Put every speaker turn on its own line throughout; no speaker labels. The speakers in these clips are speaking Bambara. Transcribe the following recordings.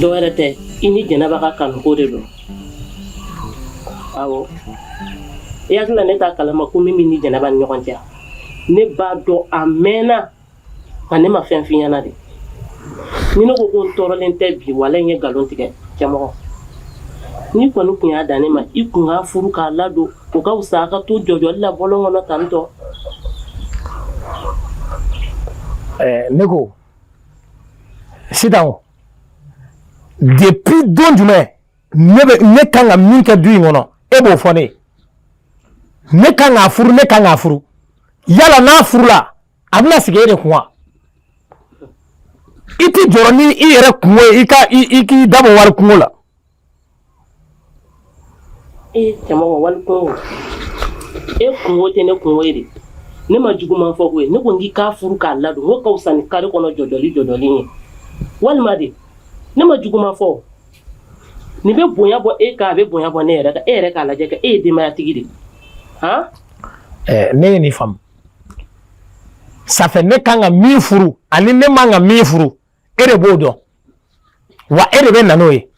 dɔ wɛrɛ tɛ i ni jɛnɛba ka kanuko de don awɔ i hakili la ne t'a kalama ko min b'i ni jɛnɛba ni ɲɔgɔn cɛ ne b'a dɔn a mɛɛnna nka ne ma fɛn f'i ɲɛna dɛ ni ne ko ko n tɔɔrɔlen tɛ bi wala n ye nkalon tigɛ cɛmɔgɔ n'i kɔni tun y'a dan ne ma i kun k'a furu k'a ladon o ka fisa a ka to jɔjɔli la bɔlɔn kɔnɔ tantɔ
ne ko sitan o depuis don jumɛn ne bɛ ne kan ka min kɛ du in kɔnɔ e b'o fɔ ne ye ne kan k'a furu ne kan k'a furu yala n'a furula a bɛna sigi e de kun wa i tɛ jɔrɔ ni i yɛrɛ kungo ye i ka i k'i da bɔ wali kungo la
E cɛmɔgɔ wali kungo e kungo tɛ ne kungo ye dɛ ne ma juguman fɔ koyi ne ko n k'i k'a furu k'a ladon n k'o ka fisa ni kare kɔnɔ jɔjɔli ye walima de ne ma juguman fɔ nin bɛ bonya bɔ e kan a bɛ bonya bɔ ne yɛrɛ kan e yɛrɛ k'a lajɛ kɛ e ye denbayatigi
dɛ ne ye nin faamu ça fait ne kan ka min furu ani ne man ka min furu e de b'o dɔn wa e de bɛ na n'o ye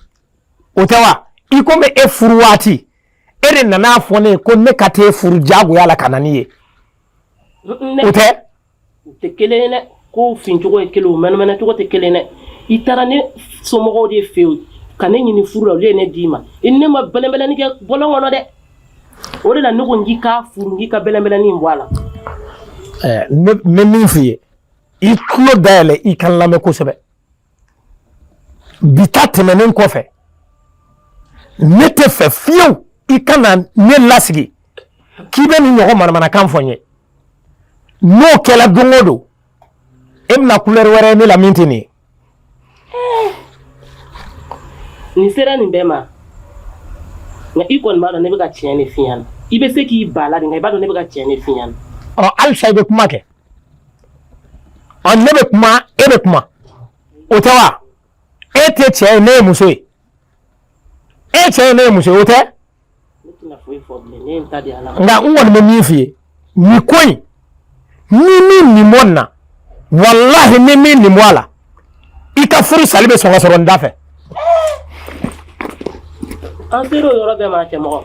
o tɛ wa i komi e furu waati e de nana a fɔ ne ye ko ne ka t'e furu diyagoya la ka na n'i ye o tɛ o tɛ kelen
ye dɛ kow fincogo ye kelen o mɛnɛmɛnɛcogo tɛ kelen ye dɛ i taara ne somɔgɔw de fɛ yen ka ne ɲini furu la olu ye ne d'i ma i ne ma bɛlɛnbɛlɛni kɛ bɔlɔn kɔnɔ dɛ o de la ne ko n k'i k'a furu n k'i ka bɛlɛnbɛlɛni in bɔ a la
ɛɛ n bɛ min f'i ye i tulo dayɛlɛ i ka n lamɛn kosɛbɛ bi ta tɛmɛnen kɔfɛ ne t'a fɛ fiyewu i kana ne lasigi k'i bɛ nin ɲɔgɔn manamanakan fɔ n ye n'o kɛra don o don e bɛna kulɛri wɛrɛ ye ne la min tɛ nin ye
Eh. Nin sera nin bɛɛ ma nka i kɔni b'a dɔn ne bɛ ka tiɲɛ de f'i ɲɛna i bɛ se k'i ban a la dɛ nka i b'a dɔn ne bɛ ka tiɲɛ de f'i ɲɛna ɔ halisa i bɛ
kuma kɛ ɔ ne bɛ kuma e bɛ kuma o tɛ wa e tɛ cɛ ye ne ye muso ye e cɛ ye ne ye muso ye o tɛ nka n kɔni bɛ min f'i ye nin ko in n'i m'i nin bɔ nin na walahi n'i m'i nin bɔ a la i ka furusali bɛ sɔn ka sɔrɔ n da fɛ.
an sera o yɔrɔ bɛɛ ma cɛmɔgɔ.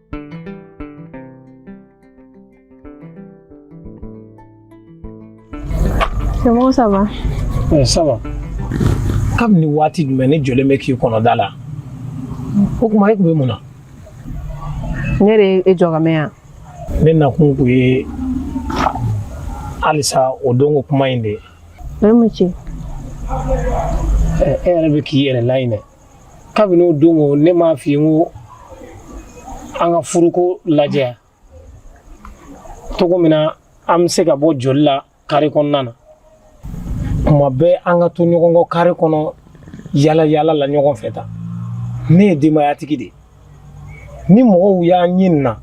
Cɛmɔgɔ ça va? Ɛ ça
va. Kabini waati jumɛn ne jɔlen bɛ k'i kɔnɔ da la? O kuma e tun bɛ mun
na? Ne de ye e jɔ ka mɛn yan. Ne
nakun kun ye halisa o don ko kuma in de ye. Mɛ mun ci? E yɛrɛ bɛ k'i yɛrɛ laɲinɛ. kabini o don ko ne m'a f'i ye n ko an ka furuko lajɛ cogo min na an bɛ se ka bɔ jɔli la kare kɔnɔna na kuma bɛɛ an ka to ɲɔgɔn kɔ kare kɔnɔ yala yala la ɲɔgɔn fɛ tan ne ye denbayatigi de ye ni mɔgɔw y'an ye nin na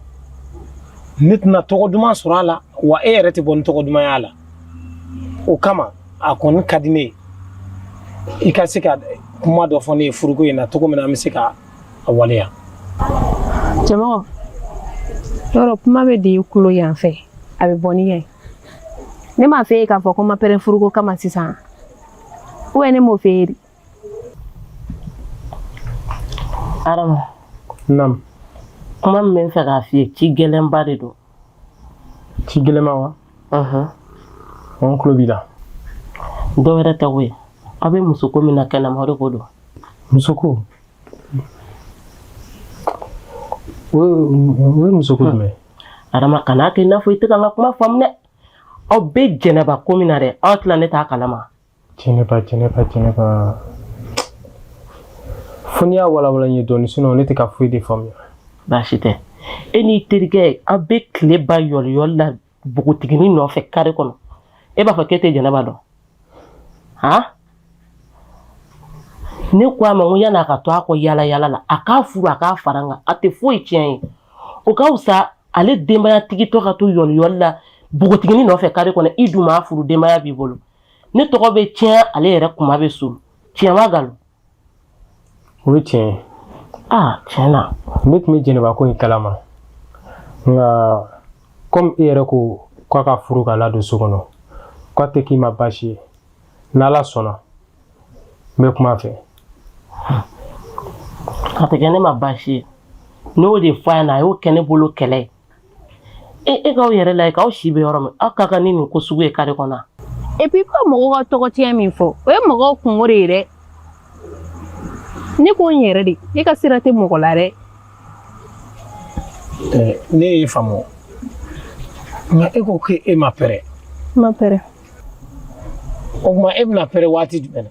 ne tɛna tɔgɔ duman sɔrɔ a la wa e yɛrɛ tɛ bɔ ni tɔgɔ duman y'a la o kama a kɔni ka di ne ye i ka se ka kuma dɔ fɔ ne ye furuko in na cogo min na an bɛ se ka a
waleya cɛmɔgɔ yɔrɔ kuma bɛ don tulo yan fɛ a bɛ bɔ ni ye ne m'a f'e ye k'a fɔ ko n ma pɛrɛ furuko kama sisan ne m'o f'e ye
Adama.
Naamu.
Kuma min bɛ n fɛ k'a f'i ye ci gɛlɛnba de don. Ci
gɛlɛnba wa? Ɔhɔn. Ɔ n tulo b'i la. Dɔ wɛrɛ
tɛ koyi aw bɛ musoko min na kɛnɛma o de ko don.
Musoko? O ye musoko jumɛn ye? Adama kan'a
kɛ i n'a fɔ i tɛ ka n ka kuma faamu dɛ. Aw bɛ Jɛnɛba ko min na dɛ aw tila ne t'a kalama. Jɛnɛba jɛnɛba
jɛnɛba fo n'i y'a walawala n ye dɔɔni sinɔn ne tɛ ka foyi de faamuya baasi tɛ
e n'i terikɛ aw bɛ tile ban yɔliyɔli la npogotigini nɔfɛ kare kɔnɔ e b'a fɔ k'e tɛ jɛnɛba dɔn han ne ko a ma ko yan'a ka to a kɔ yala yala la a k'a furu a k'a fara n kan a tɛ foyi tiɲɛ ye o ka wusa ale denbayatigitɔ ka to yɔliyɔli la npogotigini nɔfɛ kare kɔnɔ i dun m'a furu denbaya b'i bolo ne tɔgɔ bɛ tiɲɛ ale yɛrɛ kunma bɛ suuli tiɲɛ ma nkalon
o ye tiɲɛ ye aa tiɲɛ na
ne tun bɛ jɛnɛba ko
in kalama nka kɔmi e yɛrɛ ko k'a k'a furu k'a ladon so kɔnɔ k'a tɛ k'i ma baasi ye n'ala sɔnna n bɛ kuma a
fɛ a tɛ kɛ ne ma baasi ye ne y'o de fɔ a ɲɛna a y'o kɛ ne bolo kɛlɛ ye e e k'aw yɛrɛ lajɛ k'aw si bɛ yɔrɔ min aw ka kan ni nin ko sugu ye kare kɔnɔ epi ka mɔgɔw
ka tɔgɔtiɲɛ min fɔ o ye mɔgɔw kunko de ye dɛ ne ko n yɛrɛ de ne ka sira tɛ mɔgɔ la
dɛ ne y'i faamu nka e ko k'e ma pɛrɛ ma pɛrɛ o tuma e bɛna pɛrɛ waati jumɛn na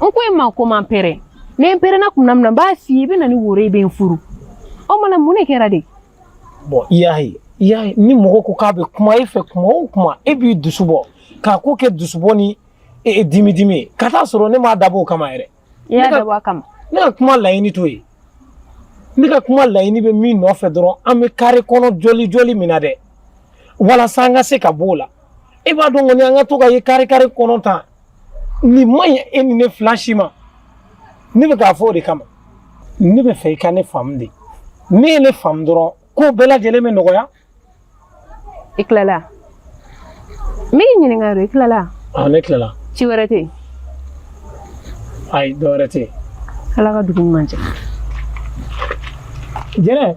n ko e ma ko n ma pɛrɛn ne n pɛrɛnna tuma min na n b'a f'i ye i bɛ na ni woro ye i bɛ n furu o mana mun de kɛra de bɔn i y'a
ye i y'a ye ni mɔgɔ ko k'a bɛ kuma e fɛ kuma o kuma e b'i dusu bɔ k'a ko kɛ dusubɔ ni dimi dimi ye ka t'a sɔrɔ ne m'a dabɔ o kama yɛrɛ i y'a dabɔ a
kama ne ka kuma
laɲini t'o ye ne ka kuma laɲini bɛ min nɔfɛ dɔrɔn an bɛ kare kɔnɔ jɔli jɔli min na dɛ walasa an ka se ka b'o la e b'a dɔn kɔni an ka to ka ye kare kare kɔnɔ tan nin man ɲi e ni ne fila si ma ne bɛ k'a fɔ o de kama ne bɛ fɛ i ka ne faamu de n'e ye ne faamu dɔrɔn ko bɛɛ lajɛlen bɛ nɔgɔya
i tilala n b'i ɲininka yɔrɔ i tilala aa ne
tilala ci wɛrɛ tɛ yen ayi dɔ wɛrɛ tɛ yen ala ka dugu
ɲuman jɛ
jɛnɛ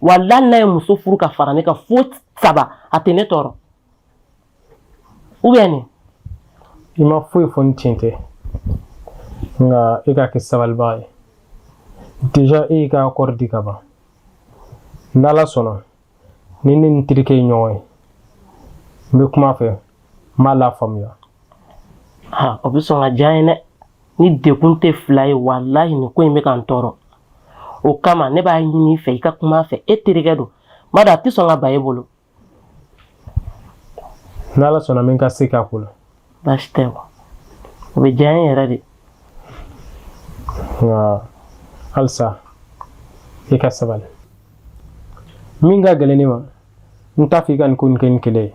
walahi n'a ye muso furu ka fara ne kan fo saba a tɛ ne tɔɔrɔ ou bien ne i ma
foyi fɔ ni tiɲɛ tɛ nka e ka kɛ sabalibaga ye deja e y'i ka akɔri di ka ban n'ala sɔnna ni ne ni terikɛ ye ɲɔgɔn ye n bɛ kuma a fɛ n b'a lafaamuya
o bɛ sɔn ka diya n ye dɛ ne degun tɛ fila ye walahi nin ko in bɛ ka n tɔɔrɔ o kama ne b'a ɲini i fɛ i ka kuma a fɛ e terikɛ don n b'a dɔn a tɛ sɔn ka ban e bolo
n'ala sɔnna n bɛ n ka se k'a ko la baasi tɛ wa
o bɛ diya n ye yɛrɛ de
nka halisa i ka sabali min ka gɛlɛn ne ma n t'a fɛ i ka nin ko nin kɛ ni kɛlɛ ye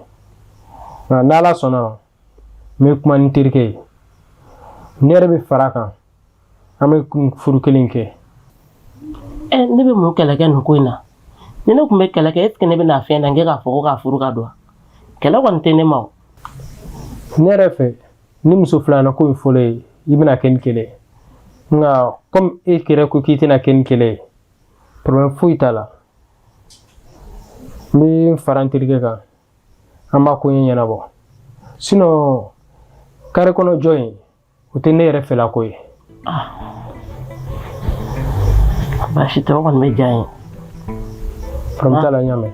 nka n'ala sɔnna n bɛ kuma ni terikɛ ye ne yɛrɛ bɛ fara a kan an bɛ furu kelen
kɛ ɛ ne bɛ mun kɛlɛ kɛ nin ko in na ni ne tun bɛ kɛlɛ kɛ est ce que ne bɛ na fɛn na n kɛ k'a fɔ ko k'a furu ka don kɛlɛ kɔni tɛ ne ma o
ne yɛrɛ fɛ ni muso filanan ko in fɔr'i ye i bɛna kɛ ni kɛlɛ ye nka komi e yɛrɛ ko k'i tɛna kɛ ni kɛlɛ ye problème foyi t'a la n bɛ fara n terikɛ kan an b'a ko in ɲɛnabɔ sinon kare kɔnɔ jɔ in o tɛ ne yɛrɛ fɛla ko ye
baasi tɛ o kɔni bɛ diya n
ye problème t'a la n y'a mɛn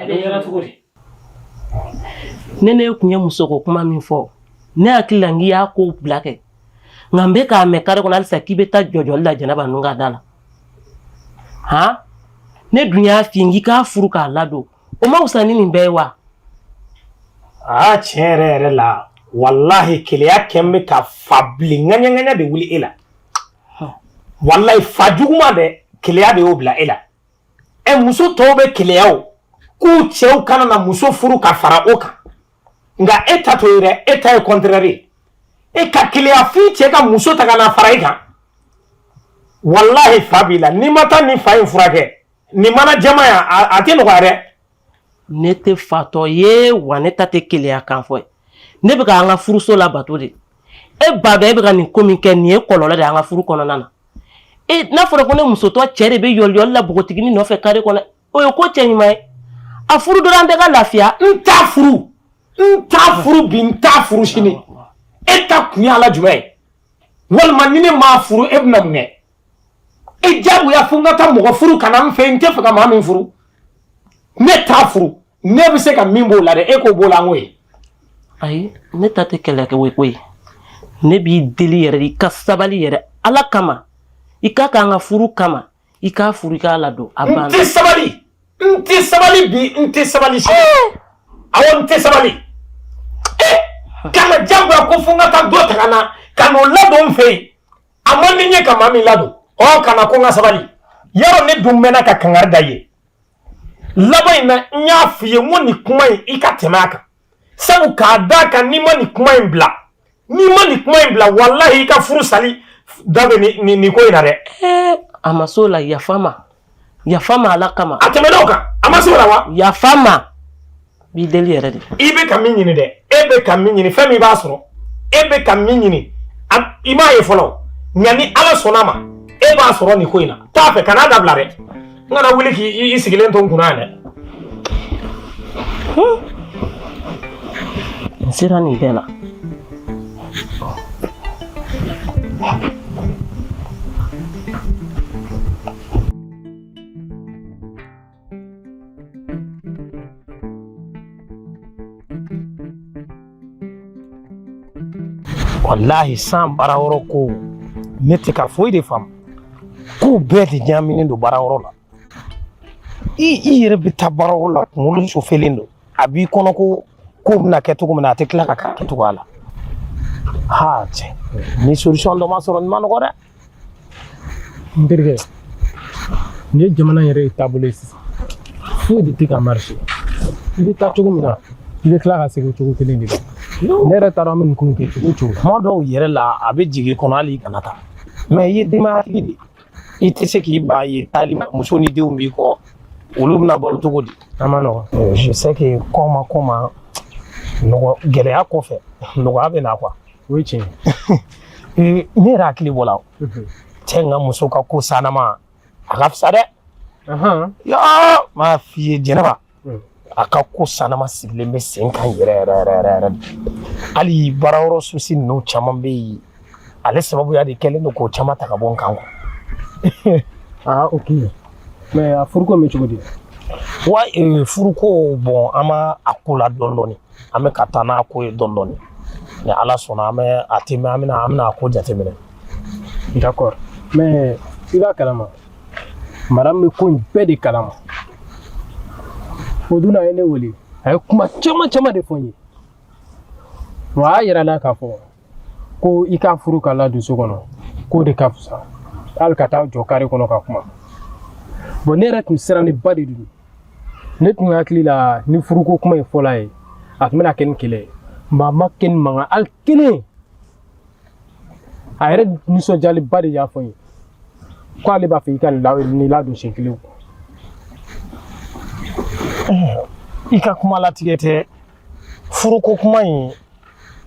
A bɛ yɔrɔ cogo di ne ne kun ye muso ko kuma min fɔ ne hakili la n k'i y'a ko bila kɛ nka n bɛ k'a mɛn kare kɔnɔ halisa k'i bɛ taa jɔjɔli la jɛnɛba ninnu ka da la han ne dun y'a f'i ye n k'i k'a furu k'a ladon o ma wusa ni nin bɛɛ ye wa aa
tiɲɛ yɛrɛ yɛrɛ la walahi keleya kɛlen bɛ ka fa bilen ŋaɲaŋaɲa de wuli e la walahi fa juguman dɛ keleya de y'o bila e la ɛ muso tɔw bɛ keleya o k'u cɛw kana na muso furu ka fara o kan nka e ta t'o ye dɛ e ta ye contraire ye e ka keleya f'i cɛ ka muso ta ka na fara i kan walahi fa b'i la n'i ma taa nin fa in furakɛ nin mana jama yan a tɛ nɔgɔya dɛ ne
tɛ fatɔ ye wa ne ta tɛ keleya kan fɔ ye ne bɛ ka an ka furuso labato de e b'a dɔn e bɛ ka nin ko min kɛ nin ye kɔlɔlɔ de an ka furu kɔnɔna na e n'a fɔra ko ne musotɔ cɛ de bɛ yɔliyɔli la npogotiginin nɔfɛ kare kɔnɔ o ye ko cɛ ɲuman ye a furu dɔrɔn an bɛɛ ka lafiya n t'a
furu n t'a furu bi n t'a furu sini e ta kun ye ala jumɛn ye walima ni ne m'a furu e bɛna mun kɛ e jagoya fo n ka taa mɔgɔ furu ka na n fɛ n tɛ fɛ ka maa min furu ne t'a furu ne bɛ se ka min b'o la dɛ e k'o b'o la n ko ye ayi
ne ta tɛ kɛlɛkɛ ko ye ne b'i deli yɛrɛ i ka sabali yɛrɛ ala kama i k'a k'an ka furu kama i k'a furu i k'a ladon a banna n tɛ sabali
n tɛ sabali bi n tɛ sabali sini eh! awɔ n tɛ sabali e eh! kana jagoya ko fo n ka taa dɔ ta ka na ka n'o ladon n fɛ yen a man di n ye ka maa min ladon ɔ kana ko n ka sabali yarɔ ne dun mɛnna ka kangari da i ye laban in na n y'a f'i ye n ko nin kuma in i ka tɛmɛ a kan sabu k'a d'a kan n'i ma nin kuma in bila n'i ma nin kuma in bila walahi i ka furu sali da bɛ nin nin ko in na dɛ. a ma s'o
la yafa ma. yafa ma ala kama a tɛmɛna o kan a
ma se o la wa yafa
ma b'i deli yɛrɛ de i bɛ ka min ɲini dɛ
e bɛ ka min ɲini fɛn min b'a sɔrɔ e bɛ ka min ɲini a- i m'a ye fɔlɔ nka ni ala sɔnna ma e b'a sɔrɔ nin ko in na t'a fɛ kan'a dabila dɛ n kana wuli k'i i- i sigilen to n kunna yan
dɛ n sera nin bɛɛ la
walahi san baara yɔrɔ ko ne tɛ ka foyi de faamu kow bɛɛ de ɲaaminen don baara yɔrɔ la i i yɛrɛ bɛ taa baara la kunkolo sofelen don a b'i kɔnɔ ko ko bɛna kɛ cogo min na a tɛ tila ka kɛ cogoya la ha cɛ ni solution dɔ ma sɔrɔ nin ma nɔgɔ dɛ
n terikɛ nin ye jamana yɛrɛ ye taabolo ye sisan foyi de tɛ ka marché i bɛ taa cogo min na i bɛ tila ka segin cogo kelen de la ne yɛrɛ t'a dɔn an bɛ nin ko in kɛ cogo cogo kuma dɔw yɛrɛ la
a bɛ jigin i kɔnɔ hali i kana taa mais i ye denbayatigi de ye i tɛ se k'i ban yen taali ma muso ni denw b'i kɔ olu bɛna balo cogo di a man nɔgɔn je
sais que kɔma
kɔma nɔgɔ gɛlɛya kɔfɛ nɔgɔya bɛ na quoi o ye
tiɲɛ
ye ne yɛrɛ hakili b'o la cɛ n ka muso ka ko sanama a ka fisa dɛ yɔɔ m'a f'i ye jɛnɛba hmm. a ka ko sanama sigilen bɛ sen kan yɛrɛ yɛrɛ yɛrɛ yɛrɛ yɛrɛ hali baara yɔrɔ souci ninnu caman bɛ yen ale sababuya de kɛlen don k'o caman ta ka bɔ n kan aa
ok mais a furuko bɛ cogo di
wa eh, furuko bon an b'a a ko la dɔɔni dɔɔni an bɛ ka taa n'a ko ye dɔɔni dɔɔni ni ala sɔnna an bɛ a tɛ mɛn an bɛna an bɛna a ko jateminɛ
d'accord mais i b'a kalama madame bɛ ko in bɛɛ de kalama o dun a ye ne wele a ye kuma caman caman de fɔ n ye wa a y'a yira n na k'a fɔ ko i k'a furu k'a ladon so kɔnɔ k'o de ka fisa hali ka taa jɔ kare kɔnɔ ka kuma bon ne yɛrɛ tun sirannenba de don ne tun hakili la ni furuko kuma in fɔla a ye a tun bɛna kɛ ni kɛlɛ ye mais a ma kɛ ni mankan hali kelen a yɛrɛ nisɔndiyalenba de y'a fɔ n ye ko ale b'a fɛ i ka nin ladon siɲɛ kelen
i ka kuma latigɛ tɛ furuko kuma in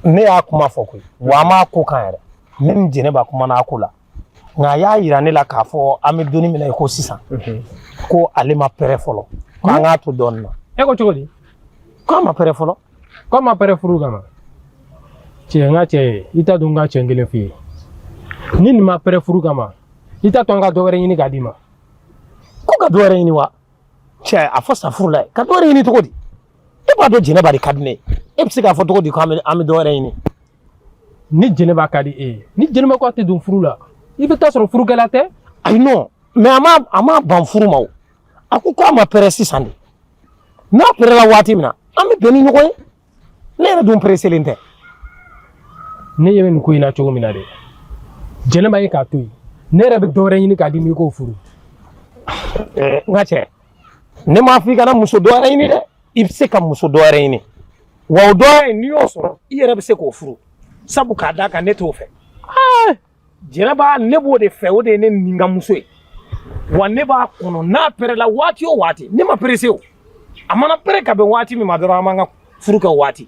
ne y'a kuma fɔ koyi wa an b'a ko kan yɛrɛ ne ni jɛnɛba kumana a ko la nka a y'a yira ne la k'a fɔ an bɛ don in min na i ko sisan ko ale ma pɛrɛ fɔlɔ ko an k'a to dɔɔnin na e ko cogo di
ko a ma
pɛrɛ fɔlɔ ko a ma pɛrɛ
furu kama cɛ n ka cɛ ye i t'a dɔn n ka cɛ kelen f'i ye ni nin ma pɛrɛ furu kama i t'a to an ka dɔ wɛrɛ ɲini k'a d'i ma
ko ka dɔ wɛrɛ ɲini wa cɛ a fɔ sa furu la ye ka dɔ wɛrɛ ɲini cogo di e b'a dɔn jɛnɛba de ka di ne ye e bɛ se k'a fɔ cogo di ko an bɛ dɔ wɛrɛ ɲini
ni jɛnɛba ka di e ye ni jɛnɛba ko a tɛ don furu la i bɛ t'a sɔrɔ furukɛla tɛ ayi
non mais a ma a ma ban furu ma o a ko k'a ma pɛrɛ sisan de n'a pɛrɛla waati min na an bɛ bɛn ni ɲɔgɔn ye ne yɛrɛ dun pereselen
tɛ ne ɲɛ bɛ nin ko in na cogo min na dɛ jɛnɛba i k'a to yen ne yɛrɛ bɛ dɔwɛrɛ ɲini k'a d'i ma i k'o furu
n ka cɛ ne m'a fɔ i kana muso dɔwɛrɛ ɲini dɛ i bɛ se ka muso dɔ wɛrɛ ɲini wa o dɔ wɛrɛ n'i y'o sɔrɔ i yɛrɛ bɛ se k'o furu sabu k'a d'a kan ne t'o fɛ jɛnɛba ne b'o de fɛ o de ye ne ni ka muso ye wa ne b'a kɔnɔ n'a pɛrɛla waati o waati ne ma perese o a mana pɛrɛ ka bɛn waati min ma dɔrɔn an b'an ka furu kɛ waati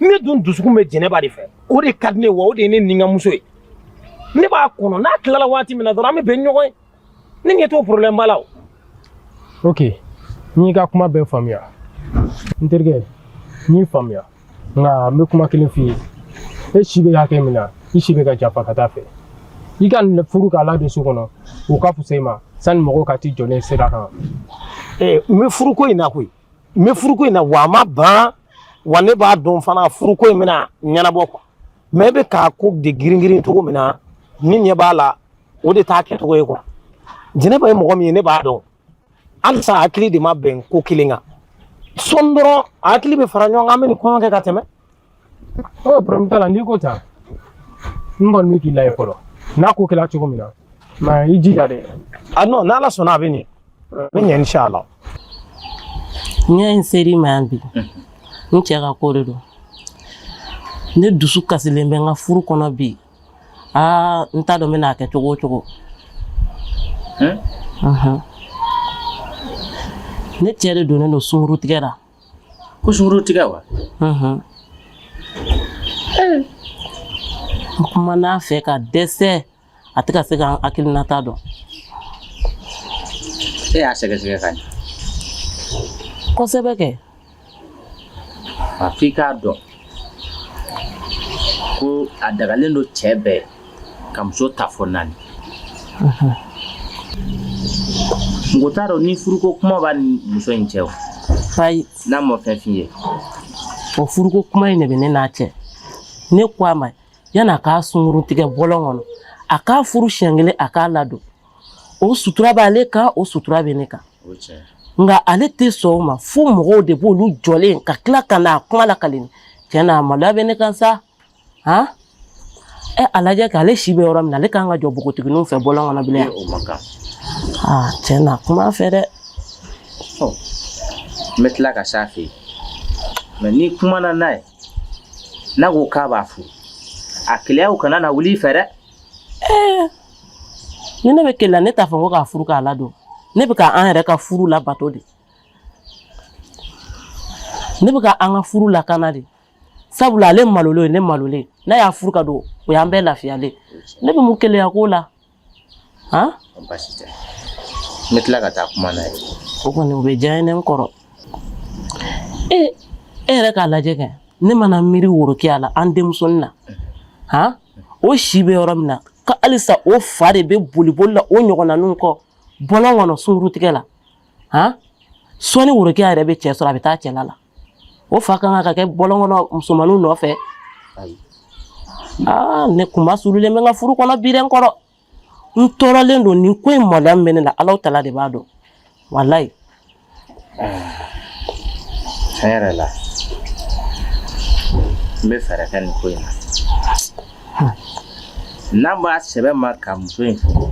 ne dun dusukun bɛ jɛnɛba de fɛ o de ka di n ye wa o de ye ne ni ka muso ye ne b'a kɔnɔ n'a tilala waati min na dɔrɔn an bɛ bɛn ɲɔgɔn ye ne ɲɛ t'o problème ba la o ok
n y'i ka kuma bɛɛ faamuya n terikɛ n y'i faamuya nka n bɛ kuma kelen f'i ye e si bɛ hakɛ min na i si bɛ ka janfa ka taa fɛ i ka nin furu k'a ladon so kɔnɔ o ka fisa i ma sani mɔgɔw ka t'i jɔlen sira kan ee n
bɛ furuko in na koyi n bɛ furuko in na wa a ma ban wa ne b'a dɔn fana furuko in bɛna ɲɛnabɔ quoi mais e bɛ k'a ko de girin girin cogo min na n'i ɲɛ b'a la o de t'a kɛcogo ye quoi jɛnɛba ye mɔgɔ min ye ne b'a dɔn halisa hakili de ma bɛn ko kelen kan sɔn dɔrɔn an hakili bɛ fara ɲɔgɔn kan an bɛ nin kɔɲɔ kɛ ka tɛmɛ
problème t'a la n'i ko tan n kɔni bɛ k'i lajɛ fɔlɔ n'a ko kɛra cogo min na mais i jija dɛ a non n'ala sɔnna
a bɛ ɲɛ a bɛ ɲɛ
inshallah n'i y'a ye n ser'i ma yan bi n cɛ ka ko de don ne dusu kasilen bɛ n ka furu kɔnɔ bi aa n t'a dɔn n bɛna a kɛ cogo o cogo ne cɛ de donnen don sungurutigɛ la ko
sungurutigɛ
wa n kumana a fɛ ka dɛsɛ a tɛ ka se ka n hakilinata dɔn
e y'a sɛgɛsɛgɛ ka ɲɛ
kosɛbɛ
kɛ a f'i k'a dɔn ko a dagalen don cɛ bɛɛ muso ta fo naani mɔgɔ t'a dɔn ni furuko kuma b'a ni muso in cɛ o ayi n'a
ma fɛn f'i
ye o
furuko kuma in de bɛ ne n'a cɛ ne ko a ma yanni a k'a sunguru tigɛ bɔlɔn kɔnɔ a k'a furu siɲɛ kelen a k'a ladon o sutura b'ale kan o sutura bɛ ne kan o ye tiɲɛ ye. nka ale tɛ sɔn o ma fo mɔgɔw de b'olu jɔlen ka tila ka na a kuma lakali n ye tiɲɛ na a maloya bɛ ne kan sa han ɛ a lajɛ kɛ ale si bɛ yɔrɔ min na ale ka kan ka jɔ npogotigininw fɛ bɔlɔn kɔnɔ bilen o man
kan aa
tiɲɛ na kuma a fɛ dɛ n
bɛ tila ka s'a fɛ yen mais ni n kumana n'a ye n'a ko k'a b'a furu a keleyaw kana na wuli i fɛ dɛ
ɛɛ ni ne bɛ keleya ne t'a fɔ ko k'a furu k'a ladon ne bɛ ka an yɛrɛ ka furu labato de ne bɛ ka an ka furu lakana de sabula ale malolen ne malolen n'a y'a furu k'a don o y'an bɛɛ lafiyalen ne bɛ mun keleya ko la
han baasi tɛ n bɛ tila ka taa kuma n'a ye o kɔni o bɛ diya
n ye n kɔrɔ e e yɛrɛ k'a lajɛ kɛ ne mana miiri worokiya la an denmusonin na han o si bɛ yɔrɔ min na ka halisa o fa de bɛ boliboli la o ɲɔgɔnnaninw kɔ bɔlɔn kɔnɔ sungurutigɛ la han sɔɔni worokiya yɛrɛ bɛ cɛ sɔrɔ a bɛ taa cɛla la o fa kan ka kɛ bɔlɔn kɔnɔ musomaninw nɔfɛ aa ne kunmasurulen bɛ n ka furu kɔnɔ bi dɛ n kɔrɔ n tɔɔrɔlen don nin ko in maloya min bɛ ne la Alahu taala de b'a dɔn walayi
tiɲɛ yɛrɛ la n bɛ fɛɛrɛ kɛ nin ko in na n'a b'a sɛbɛ ma ka muso in furu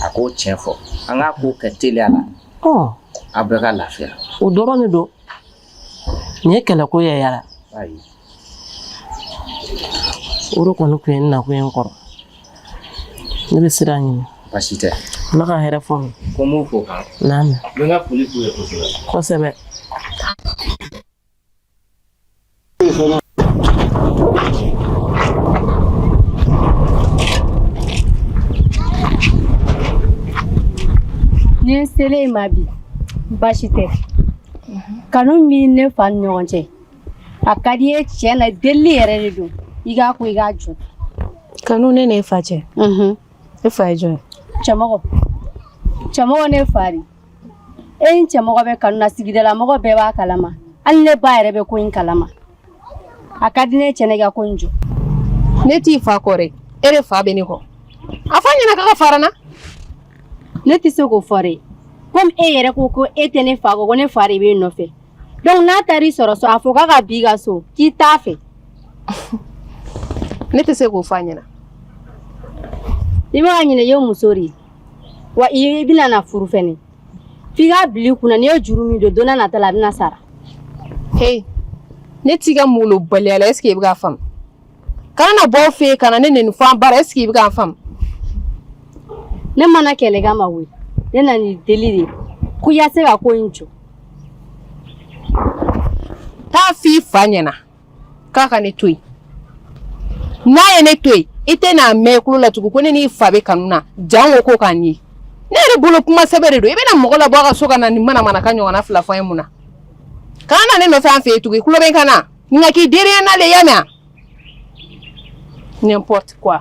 a k'o tiɲɛ fɔ an k'a ko kɛ teliya la a bɛɛ ka lafiya o dɔrɔn de
don nin ye kɛlɛko ye yala o de kɔni tun ye n nakun ye n kɔrɔ ne bɛ sira ɲini baasi
tɛ ala ka hɛrɛ fɔ n
ye ko n b'u fo kan
naamu n bɛ n ka foli
k'u ye
kosɛbɛ kosɛbɛ
Ne selen i ma bi baasi tɛ kanu min ne fa ni ɲɔgɔn cɛ a ka di n ye tiɲɛ na delili yɛrɛ de don i k'a ko i k'a jɔ kanu ne
n'e fa cɛ e fa ye jɔn ye cɛmɔgɔ cɛmɔgɔ
ne fa de e ni cɛmɔgɔ bɛ kanu na sigidala mɔgɔ bɛɛ b'a kalama hali ne ba yɛrɛ bɛ ko in kalama a ka di n ye tiɲɛ na i ka ko in jɔ ne t'i
fa kɔ dɛ e de fa bɛ ne kɔ a f'a ɲɛna k'a ka fara n na
ne tɛ se k'o fɔ dɛ komi e yɛrɛ ko ko e tɛ ne fa kɔ ko ne fa de b'e nɔfɛ donc n'a taara i sɔrɔ so a fɔ k'a ka b'i ka so k'i t'a fɛ
ne tɛ se k'o fɔ a ɲɛna
i bɛ ka ɲinɛ i ye muso de ye wa i bɛna na furu fɛnɛ f'i k'a bila i kun na n'i ye juru min don don n'a nata la a bɛna sara he
ne t'i ka malobaliya la est ce que i bɛ k'a faamu kana na bɔ aw fɛ yen ka na ne nɛni fo an bara est ce que i bɛ k'a
faamu ne ma na kɛlɛ kama koyi ne nan'i deli de ko i ka se ka ko in jɔ
taa f'i fa ɲɛna k'a ka ne to yen n'a ye ne to yen i tɛn'a mɛn i tulo la tugun ko ne n'i fa bɛ kanu na janko ko kanu ne yɛrɛ bolo kuma sɛbɛ de don i bɛna mɔgɔ labɔ a ka so ka na nin manamanakan ɲɔgɔnna fila fɔ a ye mun na kana na ne nɔfɛ an fɛ yen tugun i tulo bɛ n kan na nka k'i dereya na le i y'a mɛn n'importe quoi.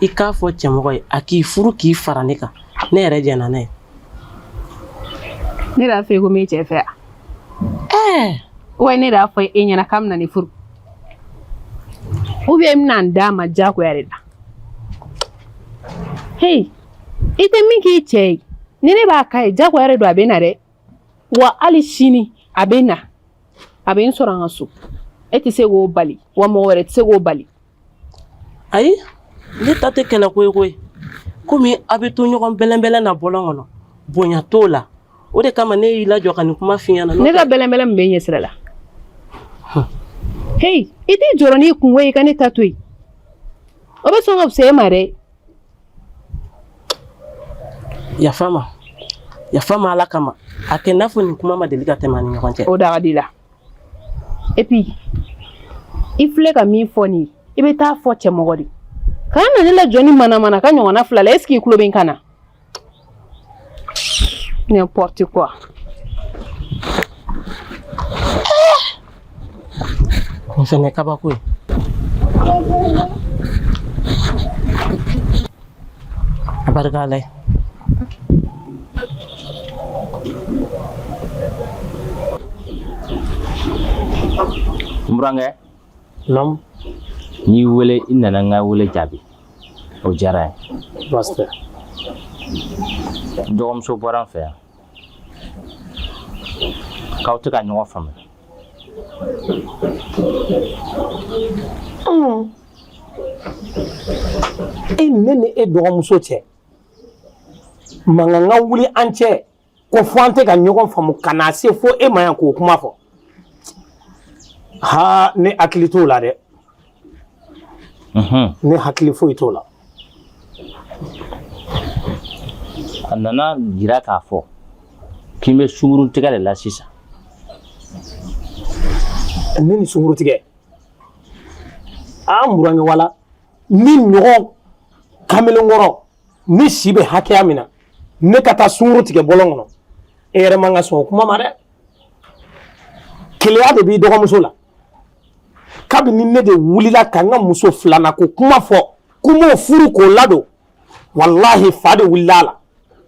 i k'a fɔ cɛmɔgɔ ye a k'i furu k'i fara ne kan ne yɛrɛ jɛnna n'a
ye ne y'a fɔ i ko n b'i cɛ fɛ ɛɛ wa ne y'a fɔ e ɲɛna k'a bɛna ne furu ou bien n bɛna n d'a ma diyagoya de la heyi i tɛ min k'i cɛ ye ni ne b'a k'a ye diyagoya de don a bɛ na dɛ wa hali sini a bɛ na a bɛ n sɔrɔ an ka so e tɛ se k'o bali wa mɔgɔ wɛrɛ tɛ se k'o bali ayi
ne ta tɛ kɛlɛ ko ye koyi komi a bɛ to ɲɔgɔn bɛlɛnbɛlɛn na bɔlɔn kɔnɔ bonya t'o la o de kama ne y'i lajɔ ka nin kuma f'i ɲɛna ne ka bɛlɛnbɛlɛn mun b'e
ɲɛ sira la heyi i t'i jɔrɔ n'i kunko ye i ka ne ta to yen o bɛ sɔn ka fisaya e ma dɛ
yafa ma yafa ma ala kama a kɛ n'a fɔ nin kuma ma deli ka tɛmɛ an ni ɲɔgɔn cɛ o da ka d'i la
et puis i filɛ ka min fɔ nin i bɛ taa fɔ cɛmɔgɔ de kana na ne lajɔ nin manamanakan ɲɔgɔnna fila la est ce que i tulo bɛ n kan na N'importe quoi.
Nin fɛnɛ ye kabako ye. A barika Ala
ye. N burankɛ
Naamu. N
y'i wele i nana n ka wele jaabi o diyara n ye. Baasi tɛ. N dɔgɔmuso bɔra n fɛ yan k'aw tɛ ka ɲɔgɔn
faamuya. E ne ni e dɔgɔmuso cɛ mankan ka wuli an cɛ. ko fɔ an tɛ ka ɲɔgɔn faamu ka na se fo e ma yan k'o kuma fɔ ha ne hakili t'o la dɛ ne hakili foyi t'o la
a nana jira k'a fɔ k'i bɛ sunguru tigɛ de la sisan
ne ni sunguru tigɛ aa n burankɛ wala ne ɲɔgɔn kamelenkɔrɔ ne si bɛ hakɛya min na ne ka taa sunguru tigɛ bɔlɔn kɔnɔ e yɛrɛ man ka sɔn o kuma ma dɛ keleya de b'i dɔgɔmuso la kabini ne de wulila ka n ka muso filanan ko kuma fɔ ko n b'o furu k'o ladon walahi fa de wulila a la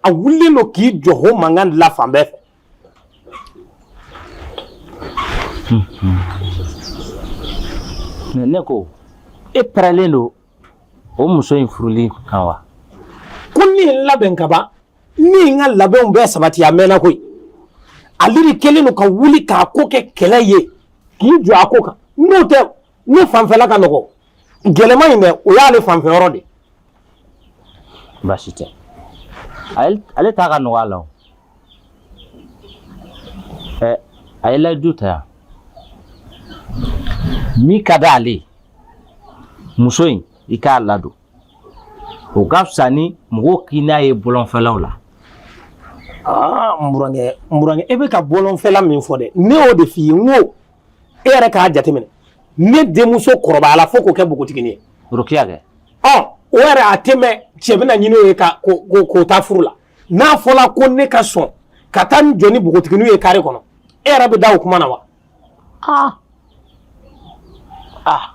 a wulilen don k'i jɔ o mankan de la fan bɛɛ fɛ
ne ko e pɛrɛlen don o muso in furuli kan wa ko ne
ye n labɛn ka ban ne ye n ka labɛnw bɛɛ sabati a mɛnna koyi ale de kɛlen don ka wuli k'a ko kɛ kɛlɛ ye k'i jɔ a ko kan n'o tɛ ne fanfɛla ka nɔgɔ gɛlɛman in dɛ o y'ale fanfɛ yɔrɔ
de baasi tɛ ale ta ka nɔgɔ a la o ɛ a ye layidu ta yan min ka di ale muso in i k'a ladon o ka fisa ni mɔgɔw k'i n'a ye bɔlɔnfɛlaw la
aa n burankɛ n burankɛ e bɛ ka bɔlɔnfɛla min fɔ dɛ ne y'o de f'i ye n ko e yɛrɛ k'a jateminɛ ne denmuso kɔrɔbayala fo k'o kɛ npogotigini ye rokiya kɛ
ɔ o yɛrɛ
a tɛ mɛɛn cɛ bɛna ɲini o ye ka k'o ta furu la n'a fɔla ko ne ka sɔn ka taa n jɔ ni npogotiginiw ye kare kɔnɔ e yɛrɛ bɛ da o kuma na wa aa aa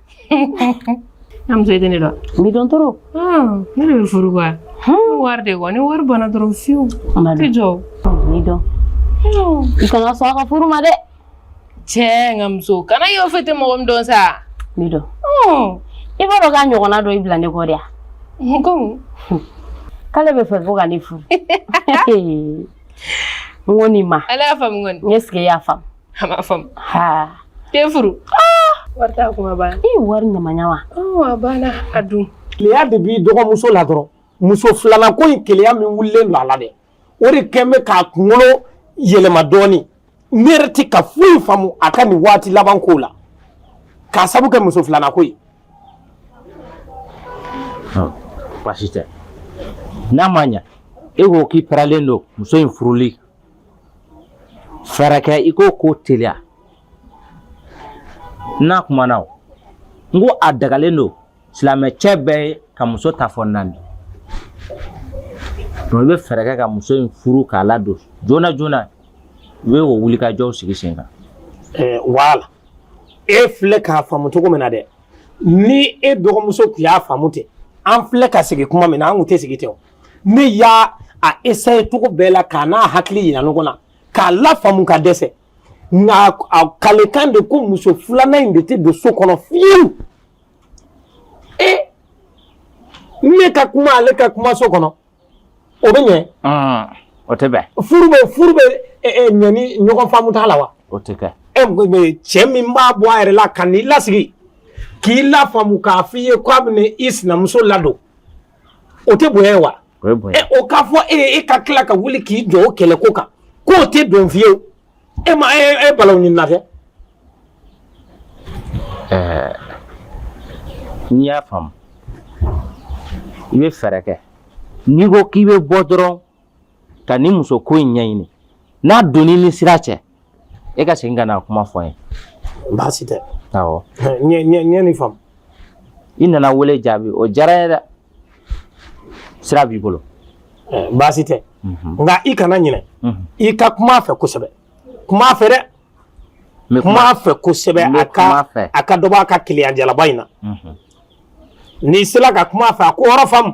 am zai dani da mi don
toro ah ni
da furu ba hmm war de wani war bana doro fiu ti jo mi don
i kana sɔn ka furu ma de che
ngam so kana yo fete mo gom don sa mi don
hmm i b'a dɔn k'a ɲɔgɔnna dɔ i bila ne kɔ de yan
ko k'ale
b'a fɛ ko ka ne furu n ko nin ma ala y'a faamu kɔni n est ce
que i y'a faamu
a ma faamu
ha
ke furu
ah! wari t'a kuma ba i wari ɲama
ɲama wa a banna a
dun keleya de b'i
dɔgɔmuso la dɔrɔn muso filanan ko in keleya min wulilen don a la dɛ o de kɛn bɛ k'a kunkolo yɛlɛma dɔɔni ne yɛrɛ tɛ ka foyi faamu a ka nin waati laban ko la k'a sabu kɛ muso filanan ko
ye baasi tɛ n'a ma ɲa e ko k'i pɛrɛlen don muso in furuli fɛɛrɛ kɛ i k'o ko teliya n'a kumana o n ko a dagalen don silamɛ cɛ bɛɛ ye ka muso ta fo naani donc i bɛ fɛɛrɛ kɛ ka muso in furu k'a ladon joona joona i bɛ o wulikajɔw sigi sen kan
wala e filɛ k'a faamu cogo min na dɛ ni e dɔgɔmuso tun y'a faamu ten an filɛ ka sigi kuma min na an tɛ sigi ten ne y'a a essayer cogo bɛɛ la k'a n'a hakili yira ɲɔgɔn na k'a lafaamu ka dɛsɛ nka a kalekan de ko muso filanan in de tɛ don so kɔnɔ fiyewu e ne ka kuma ale ka kuma so kɔnɔ o bɛ ɲɛ. Ah, o tɛ bɛn.
furu bɛ furu bɛ
ɲɛ ni ɲɔgɔn faamu t'a la wa. o tɛ kɛ.
ɛ cɛ min
b'a bɔ a yɛrɛ la ka n'i lasigi k'i lafaamu k'a f'i ye k'a bɛna i sinamuso ladon. o tɛ bonya ye wa o ye bonya o k'a
fɔ e ye i
ka tila ka wuli k'i jɔ o kɛlɛ ko kan k'o tɛ don fiyewu e ma e e balawu ɲini na kɛ
ɛɛ n'i y'a faamu i bɛ fɛɛrɛ kɛ n'i ko k'i bɛ bɔ dɔrɔn ka nin muso ko in ɲɛɲini n'a donni ni sira cɛ e ka segin ka na kuma fɔ n ye baasi
tɛ awɔ
n ye
nin faamu i nana
wele jaabi o diyara n ye dɛ sira b'i bolo baasi
tɛ nka i kana ɲinɛ i ka kuma a fɛ kosɛbɛ kuma a fɛ dɛ kuma a fɛ kosɛbɛ a ka a ka dɔ bɔ a ka keleya jalaba in na n'i sera ka kuma a fɛ a k'o yɔrɔ faamu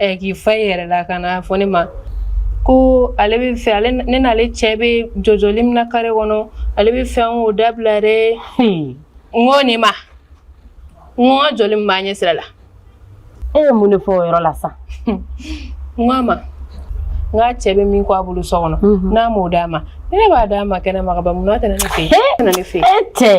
Ɛ k'i fa i yɛrɛ la ka n'a fɔ ne ma ko ale bɛ fɛ ale ne n'ale cɛ bɛ jɔjɔli min na kare kɔnɔ ale bɛ fɛ n k'o dabila dɛ n ko nin ma n ka jɔli min b'a ɲɛ sira la e
ye mun de fɔ o yɔrɔ la sa
n ko a ma k'a cɛ bɛ min kɔ a bolo so kɔnɔ n'a m'o d'a ma ne b'a d'a ma kɛnɛ ma mun tɛ ne fɛ ne fɛ e tɛ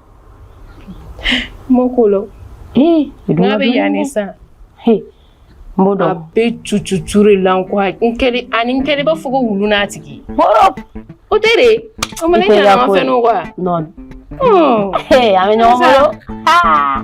Mokolo n'a bɛ yan ne
san n b'o dɔn a bɛ
cucucu de la ko ani n kɛlen b'a fɔ ko wulu n'a tigi o tɛ dɛ o ma ne ɲɛna an ka fɛn n'o wa
non an bɛ ɲɔgɔn bolo aa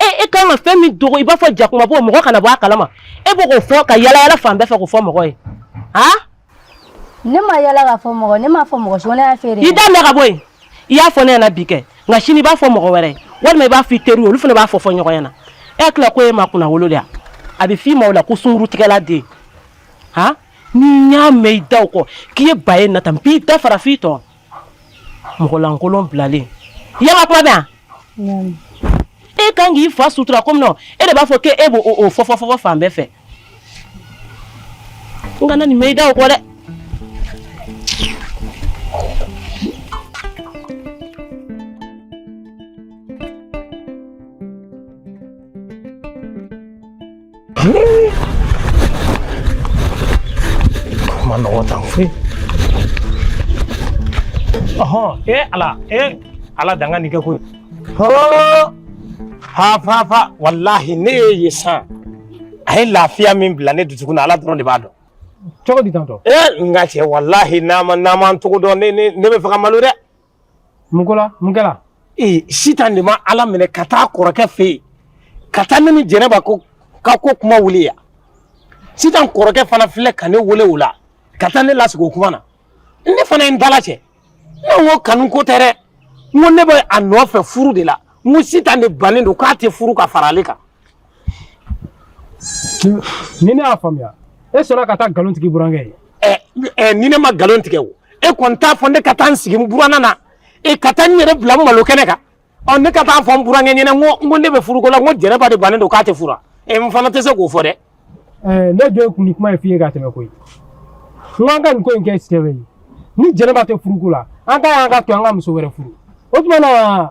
e e ka kan ka fɛn min dogo i b'a fɔ jakuma bɔ mɔgɔ kana bɔ a kalama e b'o k'o fɔ ka yalayala fan bɛɛ fɛ k'o fɔ mɔgɔ ye a
ne ma yala k'a fɔ mɔgɔ ne m'a fɔ mɔgɔ si ko ne y'a fɔ e de i da minɛ ka bɔ yen
i y'a fɔ ne ɲɛna bi kɛ nka sini i b'a fɔ mɔgɔ wɛrɛ ye walima i b'a fɔ i teriw olu fana b'a fɔ fɔ ɲɔgɔn ɲɛna e hakili la ko e ma kunna wolo de yan a bɛ f'i ma o la ko sunkurutigɛla den han ni n y'a mɛn i da o kɔ k'i ye ba ye nata n b'i da fara f'i tɔn mɔgɔ lankolon bilalen i ye n ka kuma mɛn wa e kan k'i fa sutura komi nɔ e de b'a fɔ k'e b'o o fɔfɔfɔfɔ fan bɛɛ fɛ n kana nin mɛn i da o kɔ dɛ
Manood ako eh. Aha, eh ala, eh ala danga ni ka ko. Ha! Ha fa fa wallahi ne ye san. A ye lafiya min bila ne dusukun na ala dɔrɔn de b'a dɔn. Cogo di tantɔ? Eh n ka cɛ wallahi ni n ma ni n ma n cogo dɔn ne ne ne bɛ fɛ ka malo dɛ. mun ko la mun kɛla ee sitan de ma ala minɛ ka taa kɔrɔkɛ fɛ yen ka taa ne ni jɛnɛba ka ko kuma wuli yan sitan kɔrɔkɛ fana filɛ ka ne wele o la ka taa ne lasigi o kuma na ne fana ye n dala cɛ ne ko kanu ko tɛ dɛ n ko ne bɛ a nɔfɛ furu de la n ko sitan de bannen don k'a tɛ furu ka fara ale kan
ni ne y'a faamuya e sɔnna ka taa nkalon tigɛ burankɛ ye eh, eh, ni ne ma nkalon tigɛ
o e kɔni t'a fɔ ne ka taa n sigi n buranna na e ka taa n yɛrɛ bila n malo kɛnɛ kan ɔ ne ka taa fɔ n burankɛ ɲɛna n ko n ko ne bɛ furuko la n ko jɛnɛba de bannen don k'a tɛ fura e eh, n fana tɛ se k'o fɔ dɛ ne jɔ
ye kun nin kuma in f'i ye ka tɛmɛ koyi n k'an ka nin ko in kɛ sɛbɛ ye ni jɛnɛba tɛ furuko la an ka y'an k'a to an ka muso wɛrɛ furu o tuma na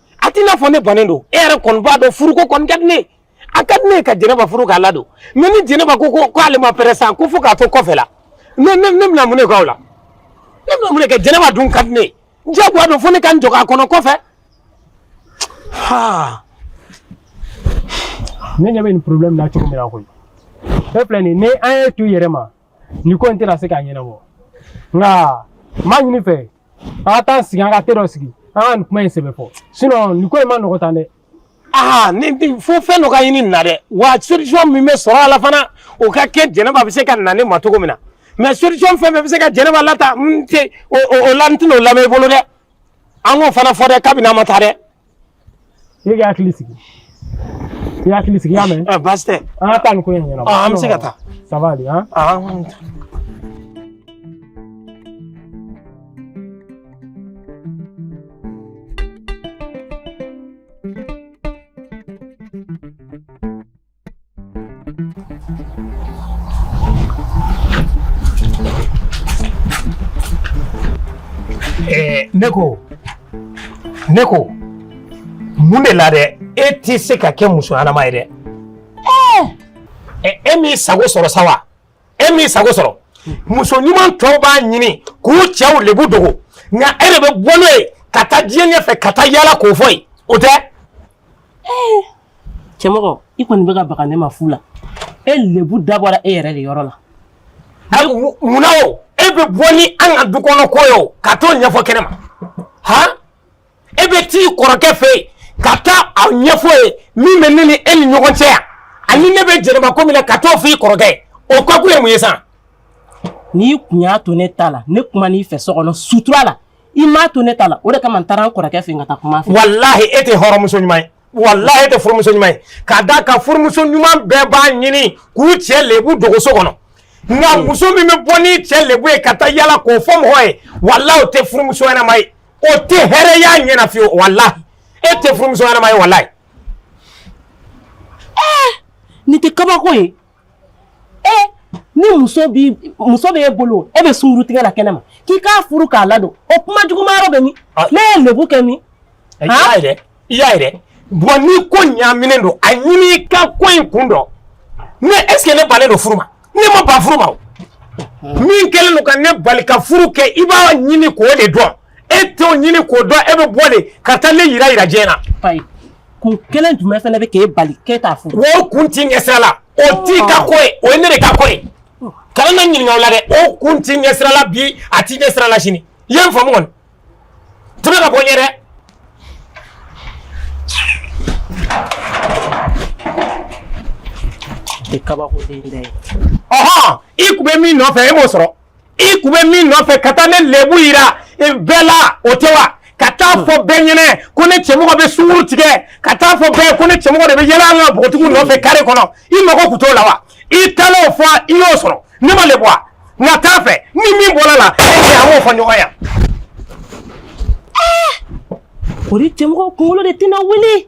a t'i n'a fɔ ne bannen don e yɛrɛ kɔni b'a dɔn furuko kɔni ka di ne ye a ka di ne ye ka jɛnɛba furu k'a ladon mais ni jɛnɛba ko ko k'ale ma prêt sa ko fo k'a to kɔfɛ la ne ne ne bɛna mun de k'o la ne bɛna mun de kɛ jɛnɛba dun ka di ne ye jagoya don fo ne ka n jɔ k'a kɔnɔ kɔfɛ
ha ne ɲɛ bɛ nin problème na cogo min na koyi e filɛ nin ye ni an y'e to i yɛrɛ ma nin ko in tɛna se ka ɲɛnabɔ nka n b'a ɲini i fɛ an ka t'an sigi an ka te dɔ sigi an ka nin kuma in sɛbɛ fɔ sinon nin ko in man nɔgɔ tan dɛ aa ni
fo fɛn dɔ ka ɲini nin na dɛ wa solution min bɛ sɔrɔ a la fana o ka kɛ jɛnɛba bɛ se ka na ne ma cogo min na mais solution fɛn fɛn bɛ se ka jɛnɛba lataa n tɛ o la n tɛna o lamɛn i bolo dɛ an k'o fana fɔ dɛ kabini an ma taa dɛ
i k'i hakili sigi i hakili sigi i y'a mɛn. ɛ baasi tɛ. an ka taa nin
ko in ɲɛnabɔ.
an bɛ se ka taa.
ça va aller han. Eh, ne ko ne ko mun de la dɛ e tɛ se ka kɛ muso ɲɛnama ye dɛ eh, e m'i sago sɔrɔ sa wa e m'i sago sɔrɔ muso ɲuman tɔw b'a ɲini k'u cɛw lebu dogo nka e de bɛ bɔ n'o ye ka taa diɲɛ ɲɛfɛ ka taa yaala k'o fɔ yen o tɛ
Eh, cɛmɔgɔ i kɔni bɛ ka baga ne ma fu la e lebu dabɔra e yɛrɛ de yɔrɔ
la munna o e bɛ bɔ ni an ka du kɔnɔ ko ye ka t'o ɲɛfɔ kɛnɛ ma han e bɛ t'i kɔrɔkɛ fɛ yen ka taa a ɲɛfɔ ye min bɛ ne ni e ni ɲɔgɔn cɛ yan ani ne bɛ jɛnɛba ko min na ka t'o f'i kɔrɔkɛ ye o ko kun ye mun ye sa n'i
kun y'a to ne ta la ne kuman'i fɛ so kɔnɔ sutura la i m'a to ne ta la o de kama n taara n kɔrɔkɛ fɛ yen ka taa kuma a fɛ walahi e tɛ
hɔrɔnmuso ɲuman ye walahi e tɛ furumuso ɲuman ye k'a da kan furumuso ɲuman bɛɛ b'a ɲini k'u cɛ lebu dogo so kɔnɔ nka hmm. muso min bɛ bɔ n'i cɛ lebu ye ka taa yaala k'o fɔ mɔgɔ ye walahi o tɛ furumuso ɲɛnama ye o tɛ hɛrɛ y'a ɲɛ na fiyewu walahi e tɛ furumuso ɲɛnama ye walahi ɛɛ
eh, nin tɛ kabako ye ee ni muso muso bɛ e bolo e bɛ sunkuru tigɛ la kɛnɛ ma k'i k'a furu k'a ladon o kuma juguma yɔrɔ bɛ min ne ye lebu kɛ min i y'a ye dɛ
i y'a ye dɛ bɔn ni ko ɲaaminen don a ɲini i ka ko in kun dɔn mais est ce que ne bannen don furu ma ne ma ban furu ma o min kɛlen don ka ne bali ka furu kɛ i b'a ɲini k'o de dɔn e t'o ɲini k'o dɔn e bɛ bɔ de ka taa ne yira yira diɲɛ na. Ayi
kun kelen jumɛn fana bɛ k'e bali k'e t'a furu. O kun t'i ɲɛ sira
la o t'i ka ko ye o ye ne de ka ko ye kana ne ɲininka o la dɛ o kun t'i ɲɛ sira la bi a t'i ɲɛ sira la sini i ye n faamu kɔni tɛmɛ ka bɔ n ɲɛ
dɛ. I kabako den dɛ. Ɔhɔn
i kun bɛ min nɔfɛ e m'o sɔrɔ. i kun bɛ min nɔfɛ ka taa ne lebu yira bɛɛ la o tɛ wa ka taa fɔ bɛɛ ɲɛnɛ ko ne cɛmɔgɔ bɛ sunkuru tigɛ ka taa fɔ bɛɛ ko ne cɛmɔgɔ de bɛ yaala la npogotigiw nɔfɛ kare kɔnɔ i mago kun t'o la wa i taalen o fɔ i y'o sɔrɔ ne ma lebu wa nka t'a fɛ ni min bɔra a la e cɛ an b'o fɔ ɲɔgɔn ye.
o de cɛmɔgɔ kunkolo de tɛna wuli.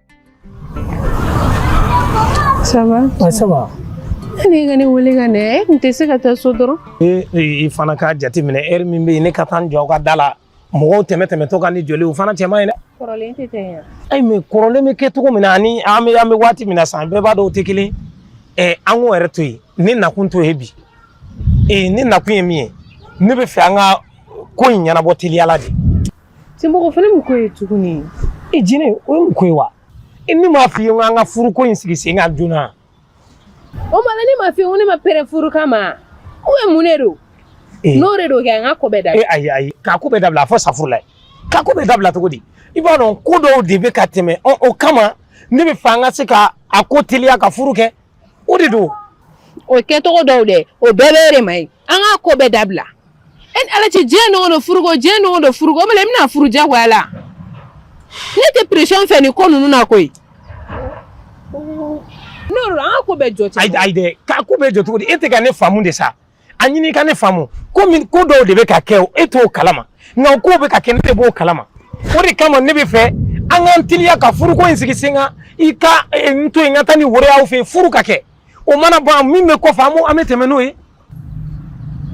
ça va ça
va ne ka
ne wele ka ne e tun tɛ se ka taa so dɔrɔn i fana k'a
jateminɛ heure min bɛ yen ne ka taa n jɔ aw ka da la mɔgɔw tɛmɛ tɛmɛtɔ ka ne jɔlen ye o fana cɛ man ɲi dɛ kɔrɔlen tɛ
ten yan ayi mais kɔrɔlen
bɛ kɛ cogo min na ani an bɛ an bɛ waati min na san bɛɛ b'a dɔn o tɛ kelen ye an k'o yɛrɛ to yen ne nakun t'o ye bi ee ne nakun ye min ye ne bɛ fɛ an ka ko in ɲɛnabɔ teliya la de Cɛmɔgɔ
fana mun ko ye tuguni i jinɛ o
ye mun ko ye wa i ne m'a f'i ye ko an ka furuko in sigi sen kan joona o
ma ne m'a f'i ye ko ne ma prêt furu kama ou bien mun de don n'o de don kɛ an ka ko bɛɛ dabila ayi ayi k'a ko bɛɛ
dabila a fɔ safurulayi k'a ko bɛɛ dabila cogo di i b'a dɔn ko dɔw de bɛ ka tɛmɛ o kama ne bɛ fɛ an ka se ka a ko teliya ka furu kɛ o de don o
kɛcogo dɔw dɛ o bɛɛ bɛ de ma ye an ka ko bɛɛ dabila e ala cɛ diɲɛ don go don furuko diɲɛ don go don furuko bɛ i bɛna furu jagoya la ne tɛ pression fɛ nin ko ninnu na koyi n'o don an ka ko bɛɛ jɔ ayi dɛ k'a ko bɛɛ jɔ cogo
di e tɛ ka ne faamu de sa a ɲini ka ne faamu ko min ko dɔw de bɛ ka kɛ o e t'o kalama nka o kow bɛ ka kɛ ne de b'o kalama o de kama ne bɛ fɛ an k'an teliya ka furuko in sigi sen kan i ka eh, n to yen n ka taa ni woro y'aw fɛ yen furu ka kɛ o mana ban min bɛ kɔfɛ an b'o an bɛ tɛmɛ n'o
ye.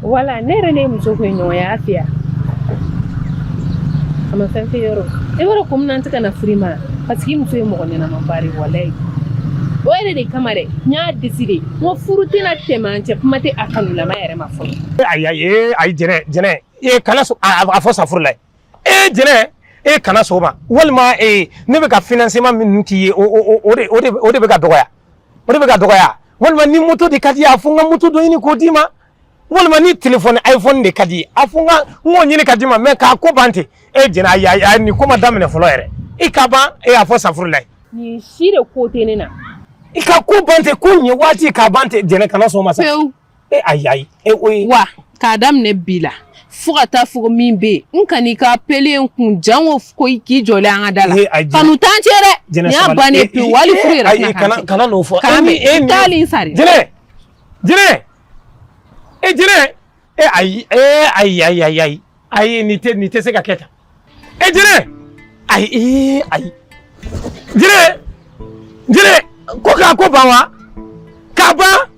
wala ne yɛrɛ ne n'i muso ko ye ɲɔgɔn ye a fɛ yan a ma fɛn fɛn yɔrɔ e b'a dɔn ko min ne tɛ ka na furu ma parce que i muso ye mɔgɔ ɲɛnama ba de walayi o yɛrɛ de kama dɛ n y'a deside. Ko furu tɛna tɛmɛ an cɛ kuma tɛ a kanulama yɛrɛ ma fɔ ayi ee
a jɛnɛ jɛnɛ e kana a fɔ safurulayi jɛnɛ e kana sɔn o ma walima ee ne bɛ ka financement min k'i ye o de bɛ ka dɔgɔya o de bɛ ka dɔgɔya walima ni moto de ka d'i ye a fɔ n ka moto dɔ ɲini k'o d'i ma walima ni telefɔni iphone de ka d'i ye a fɔ n ka n k'o ɲini ka d'i ma mɛ k'a ko ban ten e jɛnɛ ayi ayi nin ko ma daminɛ fɔlɔ yɛrɛ i ka ban e a fɔ safurulayi nin si de ko
tɛ ne na i ka ko
ban ten ko ɲɛ waati k'a ban ten jɛnɛ kana sɔn o ma sa pewu e ayi ayi e o ye
wa k'a daminɛ bi la fo ka taa fɔ min bɛ yen n kan'i ka appel ye n kun jango ko i k'i jɔlen an ka da la Ee, a jɛnɛ- kanu t'an cɛ dɛ Jɛnɛ nin y'a sabali. bannen E- pewu e- wali furu e- yɛrɛ ayi, tɛna kana- k'an cɛ. kana n'o fɔ. K'an E ni- e bɛ
ni- taali in
sari jɛnɛ
jɛnɛ e jire e ayi e ayi ayi ayi ayi ayi ni tɛ ni tɛ se ka kɛ tan e jire ayi e ayi jire jire ko k'a ko ban wa k'a ban.